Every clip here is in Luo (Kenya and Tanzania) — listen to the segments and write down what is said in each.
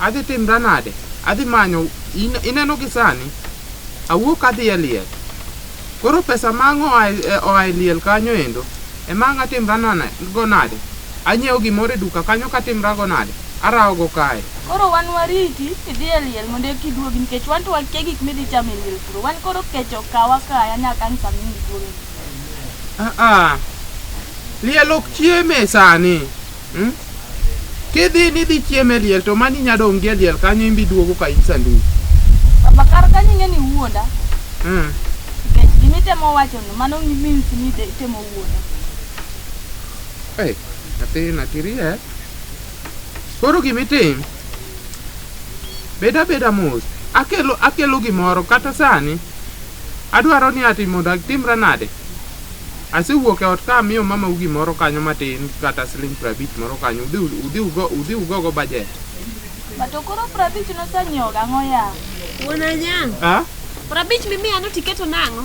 Adhi timra nade? Adhi manyo, in- ineno gi sani, awuok adhi e liel. Koro pesa ma ang' oa e- e- oa e liel kanyo endo, ema ang' atimra nane, go nade? Anyiewo gimoro e duka kanyo katimra go nade? Arawo go kae. Koro wan wariti idhi e liel mondo eki iduogi nikech wan to wakia gik midhi chamo e liel kuro. Wan koro kech okawa kaya nyaka ang' sama iduogi. Ah, ah. Liel ok chieme sani. Hmm? Kidhi ni dhi chieme liel to mani nya dong' gie liel kanyo imbi duogo ka in sanduku. Baba kar ka nyinge ni wuonda. Hmm. Nikech gima itemo wacho no mano means ni de itemo wuonda. Eh, nyathi na kirie. Koro gima itim. Beda beda mos. Akelo akelo gimoro kata sani. Adwaro ni ati mondo atimra nade? Asewuok e ot ka amiyo mamau gimoro kanyo matin kata siling prabich moro kanyo udhi ugogo bajet. Ba to koro prabich nosanyiewo gang'o ya? Wuon Anyang'. Ah? Prabich mimiya no tiketo nang'o?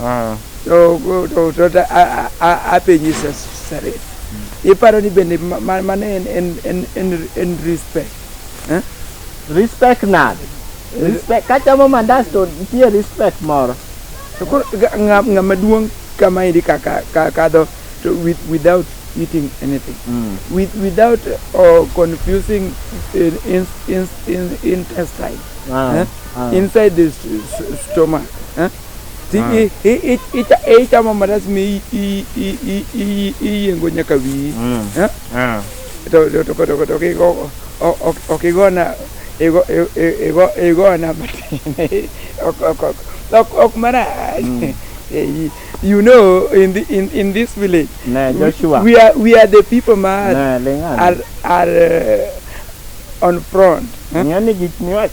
Ah. To to to to a- a- a- apenji sa- sare. Iparo ni bende ma- ma- mano en en en en en respect. Eh? Respect nade? Respect kachamo mandas to nitie respect moro. To koro ga- nga- ng'ama duong' kama endi kaka ka- kadho to with without eating anything. With without uh, confusing in, in, in, in, intestine. Ah, eh? ah. Inside the s- s- stomach. Eh? Ti- Ah. i- i- i- icha- e ichamo mandas mi i- i- i- i- i- iyiengo nyaka wiyi Mm. Eh? Ah. to to- to- to- to kigo o- ok ok igona igo i- i- igo igona matin ok ok ok ok ok marach Eh, you know in the, in in this village Ne, we- Joshua. we are we are the people ma Ne, ling'ane. are are uh, on front eh? Ng'ani gik miwacho.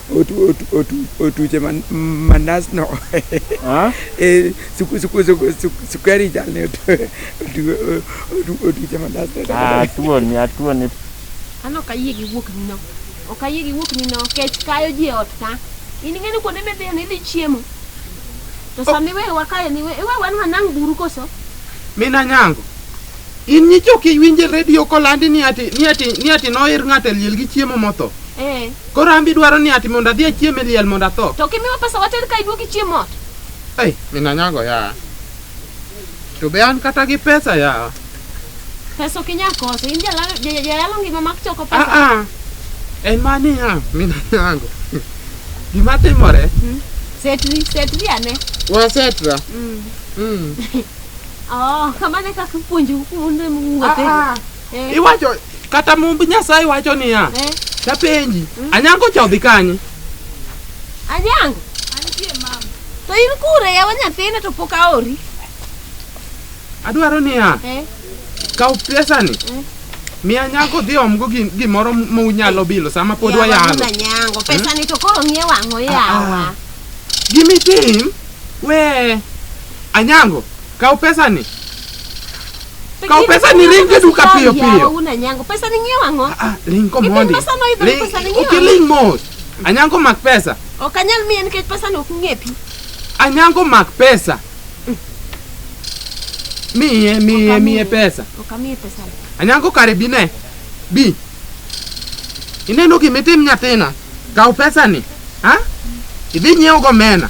Otu- otu- otu- otuche man- mandas no Ah? Eh, suku- suku- suku- suku- sukari chal ni otu- otu- otu- otuche mandas no Ah, tuoni, atuoni. An ok ayie gi wuok nino. Ok ayie gi wuok nino kech kayo ji e ot ka. In ing'e ni kuonde midhiyo ni idhi chiemo. To sama iweyo wakayo ni iwe iwe wan wanang' buru koso. mina nyango in nyicho kiwinje redio kolandi ni ati ni ati ni ati noir ng'ato e liel gi chiemo motho Eh. Koro an be idwaro ni ati mondo adhi achiem e liel mondo atho? To kimiwa pesa water ka iduogo ichiem ot. Ei, min anyago yawa. To be an kata gi pesa yawa. Pesa ok inyal koso. In jalalo ja- jalalo ngima mak choko Ah pesa. ah. En ma niya, min anyago. Gima timore, Setri, setri ane. wasetra. Mm. Mm. Oh, kamane kaka puonjo kuonde Ah, mwuothe. ah. Eh. Iwacho kata mumb Nyasaye wacho niya, Eh. tapenji, Anyango cha odhi kanye? Anyango. To in kure yawa nyathina to pok aori. Adwaro niya, Eh. kaw pesani. Mi Anyango dhi omgo gi- gimoro ma unyalo bilo sama pod Yawa wayalo. wuod Anyango. Pesa ni to koro ng'ie wang'o yawa. Gimitim, we Anyango, Kaw pesani. Kaw pesani ring gi duka piyo piyo. Una nyango pesa ni ngiew ango? Ah, ring ko mondi. Pesa no idho pesa ni ngiew. Okiling mos. Anyango mak pesa. Ok anyal miye nikech pesa no ok ng'epi. Anyango mak pesa. Miye, miye, miye pesa. Ok amiye pesa. Anyango kare bi ne. Bi. Ineno gimitim nyathina. Kaw pesani. Ha? Idhi nyiewo go mena.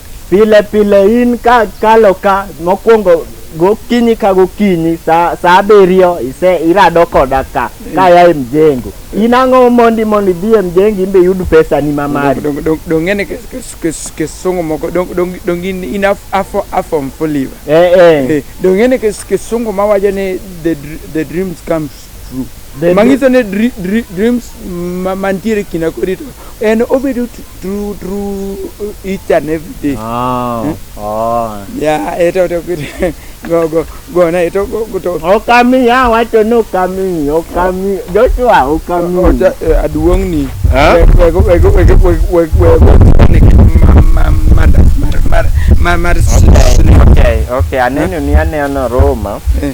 Pile pile in ka kalo ka mokwongo gokinyi ka gokinyi sa, sa abiriyo ise irado koda ka kaya e mjengo in ang'o mondi mondo idhi e mjengo imbe iyud pesani ma mari Dong- dong- dong ng'e ni kes- kes- kes- kisungu moko dong- dong- dong in in af- afo- afom fuliva eh, eh. Eh, dong ng'e ni kes- kisungu mawacho ni the dr- the dreams comes True. The Mangiso ni dri, dri, dreams ma- mantiere kinda kodi to en obedo t- true true each and every day. Ah, ah. Ya eto to kit- go go go na eto go go to Okami ya wacho ni okami, okami. Joshua okami. ocha eh, aduong' ni. Eh? Wego wego wego wego wego ni ma ma ma da- mar mar mar mar Okay, okay, okay. Aneno ni aneno Roma. Eh.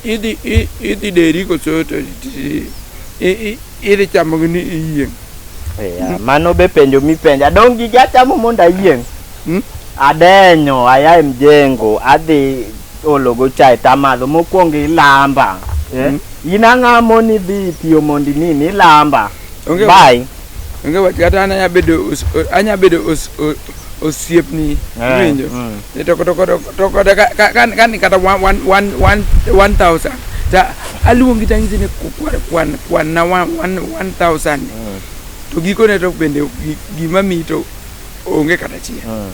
Idhi deri koso to idhi chamo gi ni iyieng'. Yeah, mano be penjo mipenjo. Adong' gi achamo mondo ayieng'. Hmm? Adenyo, aya e mjengo, adhi ologo chai tamadho mokwongo ilamba. Eh? Hmm? In ang'amo ni dhi tiyo mondo nini ilamba. Bye. onge wach kata an anya bedo anya bedo osiepni eh, winjo mm. eh, to to to kata kan kata 1000 ta aluongi tangisi ni kwan kwan kwan na 1000 mm. to gikone to bende gima mi to onge kata chiel mm.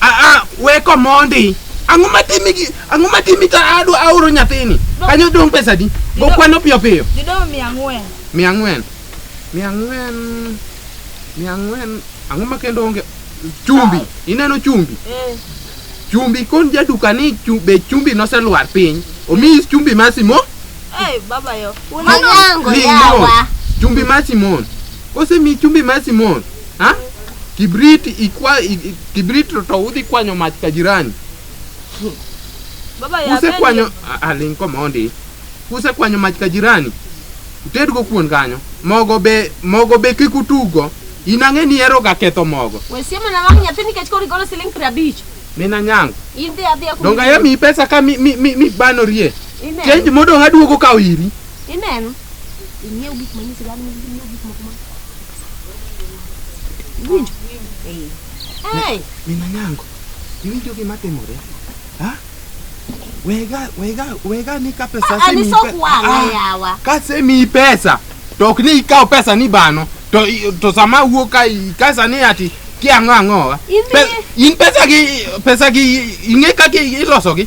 Aa, we komondi. Ang'o matimi gi ang'o matimi ta adu aoro nyathini? Kanyo dong pesa di. Go kwano piyo piyo. Didong' mia ang'wen. Mia ang'wen. Mia ang'wen. Mia ang'wen. Ang'o ma kendo onge chumbi. Ineno chumbi. Eh. Chumbi kon jaduka ni chu- be chumbi noselwar piny. Omi chumbi ma Simon. Eh, baba yo. Mwanangu Ni yawa. Simon. Chumbi ma Simon. Kose mi chumbi ma Simon. Ha? Kibrit ikwa i- i- kibrit to- to udhi kwanyo mach ka jirani. Baba ya Kuse kwanyo a- aling komondi. Kuse kwanyo mach ka jirani. Utedgo kuon kanyo. Mogo be mogo be kik utugo. In ang'e ni ero ga ketho mogo. We siemo na wang' nyathi nikech koro igolo siling' piero abich. Mina nyango. In dhi adhiya kuom- Donga ya mi pesa ka mi mi mi, mi bano rie. Ineno. Change modong aduogo kawo iri. Ineno. Ing'iew gik manyisi dhano, ing'iew gik moko ma- Iwinjo? Hey! Min Anyango, iwinjo gima timore? Ha? Wega, wega, wega ni ka pesa Ah, ah, ni sok wang'a yawa. Kase mi pesa, to ok ni ikaw pesa ni bano. To i- to sama wuok ka i- kasa ni ati ki ang'o ang'o. wa. Idhi- Pe- In pesa gi pesa gi ing'e kaka iloso gi.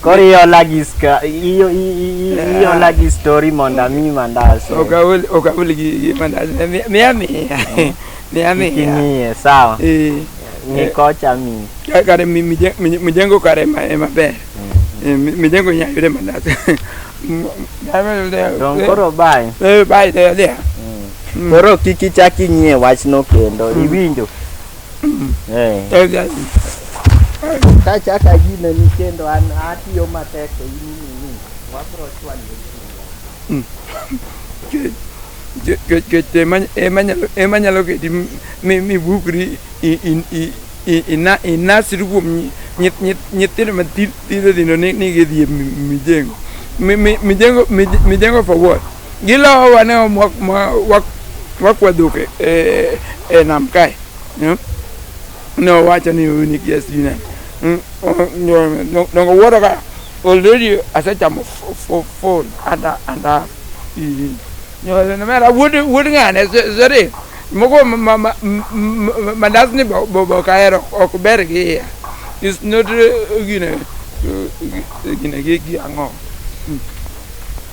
Koro iola gi ska io- i- i- i- iola gi story mondo ami mandas. Ok aol ok aol gi gi mandas. Mi- Miya miya. Miya miya. Kimiye sawa. Eh. Ni kocha mi. Ka- Kare mi- mije- mi- mijengo kare ema ema ber. Eh, mi- Mijengo nya yude mandas. Don koro bye. Eh bye there there. Koro kik ichak inyie wachno kendo. Iwinjo? Eh. Eh, ga- Kachaka gine ni kendo an atiyo matek to in inini. Wabro chwanyore. jo- jo- jo- ema- ema nyalo- ema nyalo keti mi- mi- mibukri i- i- i- i- ina- inasri kuom nyi- nyi- nyi- nyithindo mathindo thindo ni ni gidhi e mi- mijengo Mi- mi- mijengo mij- mijengo for what Gilowo wane wakwadhok e, e, e nam kae. Hmm? Ne owacho ni uni gi asina. Hmm? Dongo wuoro ka already asechamo full and and half. Nyole na mera wuod wuod ng'ane zere. Moko mandas ni bobo kaero ok ber gi iya. It's not uh, gine uh, gine gi ang'o. Hmm.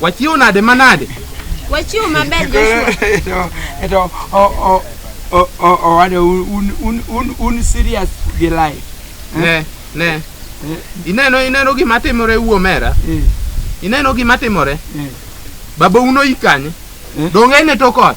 Wachiew nade manade? Wachiew maber Joshua. Eto o o o o o wade un un un un serious gi life. Ne, ne. Ineno ineno gima timore wuo mera. Eh, Ineno gima timore. eh. Baba uno ikanye. Eh. Donge ne to kot.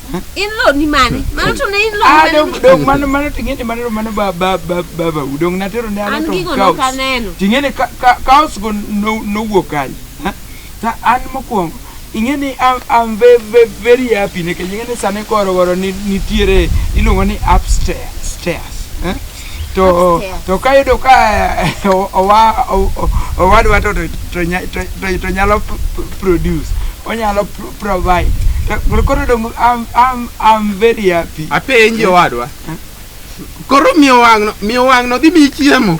In law ni mane? Mano to ne in law Ah, mane? dong dong mano mano ting'eni mano mano ba ba ba ba ba udong natero ne An anato gigo kaos. nokaneno. Ting'eni ka ka kaos go no nowuok kanye? Ha? Ta an mokwongo ing'eni am am ve ve very happy nikech ing'eni sani koro waro ni nitiere iluongo ni upstairs stairs. Ha? to Upstairs. to kayudo ka eh, o- owa- o- o- owadwa to to- to nya- to- to- to nyalo p- p- produce onyalo pro- provide To koro dong I'm, I'm, I'm very happy apenji owadwa koro miyo wang'no miyo wang'no dhi miyi chiemo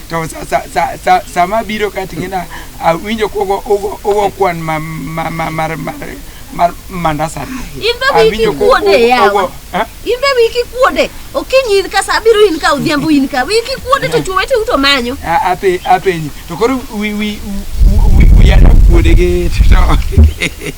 to sa- sa- sa- sa- sama abiro ka ting'ina awinjo kogo ogo- ogo kwan ma- ma- ma- mar- mar- mar mandasani In be wiki Awinjo ko- kuode ogo- yawa. ogo- eh? In be wiki kuode. Okinyi in ka sa abiro in ka odhiambo in ka. Wiki kuode to chwo wete uto manyo. A- ape- apenji to koro wi- wi- wi- wi- wiya nokuode gi to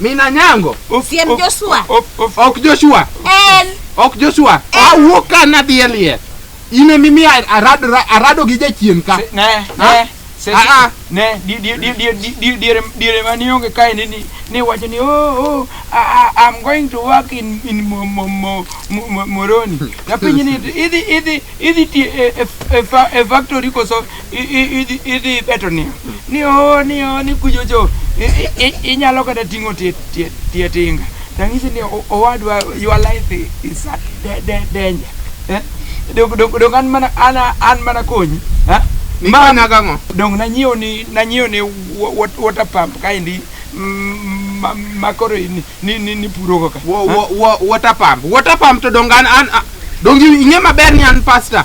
Mina nyango. Siem Joshua. Ok Joshua. En. Ok Joshua. Awuok ka nadhi e liel. In emi mi arado arado gi jachien ka. Ne. Ne. Ah, ah. Ne, diere diere mani onge kae ni ni wacho ni oh oh I'm going to work in in Moroni. Kapinyi ni idhi idhi idhi e factory koso idhi ibeto ni ni o ni o ni kujocho inyalo kata ting'o tie tie tie tinga tang'isi ni owadwa your life is at danger eh? dong dong dong an mana an an mana konyi eh? ma na gang'o dong nanyiewo ni nanyiewo ni water pump kaendi makoro ni ni ni, ni puro kaka water pump water pump to dong an an dong ing'e maber ni an pastor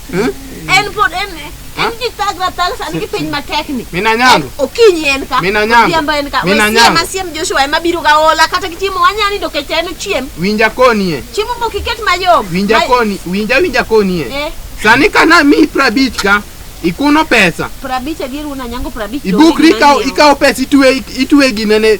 en pod en en ji thagra thag sani gi piny matek ni Min Anyango. okinyi en ka Min Anyango. odhiambo en ka Min wasiem Anyango. asiem joshua ema biro ga ola kata gi chiemo wanya nindo kech en ochiem Winja konie. chiemo mok iket mayom Winja Ma- koni, winja winja konie. eh Sani kana mi prabich ka ikuno pesa. prabich adier wuon anyango prabich Ibukri ikaw ikaw pesa itwe itwe ginene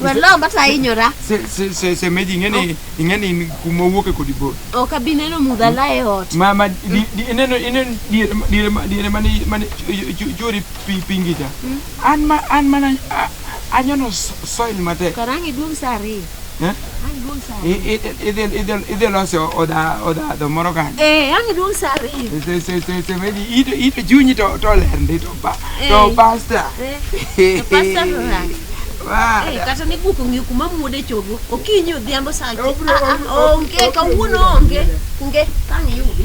Wer lo mata hinyora. Se se se se meji ingeni ingeni ni kuma wuoke kodi bor. Ok abi neno mudha la e ot. Ma ma di- di- ineno ineno diere ma- diere ma- diere mane mane jori pi pingi cha. An ma an mana a- anyono so- soil matek. Karangi duong' saa ariyo. Eh? idhi loso odhadho moro kanyo eh, ito chunyi to ler ndi to eh. pasta eh, kata ne guok ong'eyo kuma muode chogo okinyi odhiambo sa ah, ah, onge kawuono onge onge kang' yudi